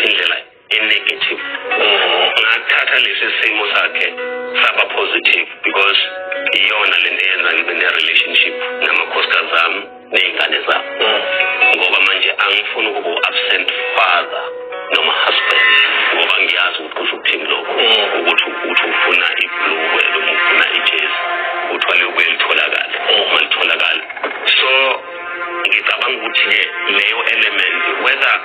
indlela enegative ngathatha lesi simo sakhe saba positive because iyona lento eyenza ngibe ne-relationship namakhosikazi zami ney'ngane zami ngoba manje angifuni ukuba u-absent father noma husband ngoba ngiyazi ukuthi kusho ukuthini lokho ukuthi ukuthi ufuna ibhulukwe noma ufuna ijezi kuthiwa liyobuye litholakale uma litholakale so ngicabanga ukuthi-ke leyo element whether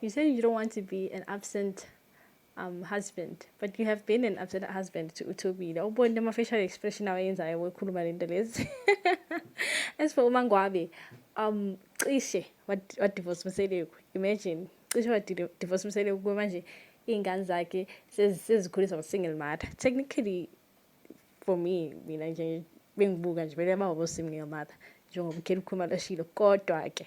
You say you don't want to be an absent um, husband but you have been an absent husband to uthobile awubonile ama-facial expression awayenzayo wekhuluma le nto lezi as for umangwabe um cishe wadivorce mseleku imagine cishe wadivorce mseleku kuba manje iy'ngane zakhe sezikhuliswa ngu-single mother technically for me mina nje bengibuka nje bele baba bo-single mother njengoba ukhele ukhuluma lashilo kodwa-ke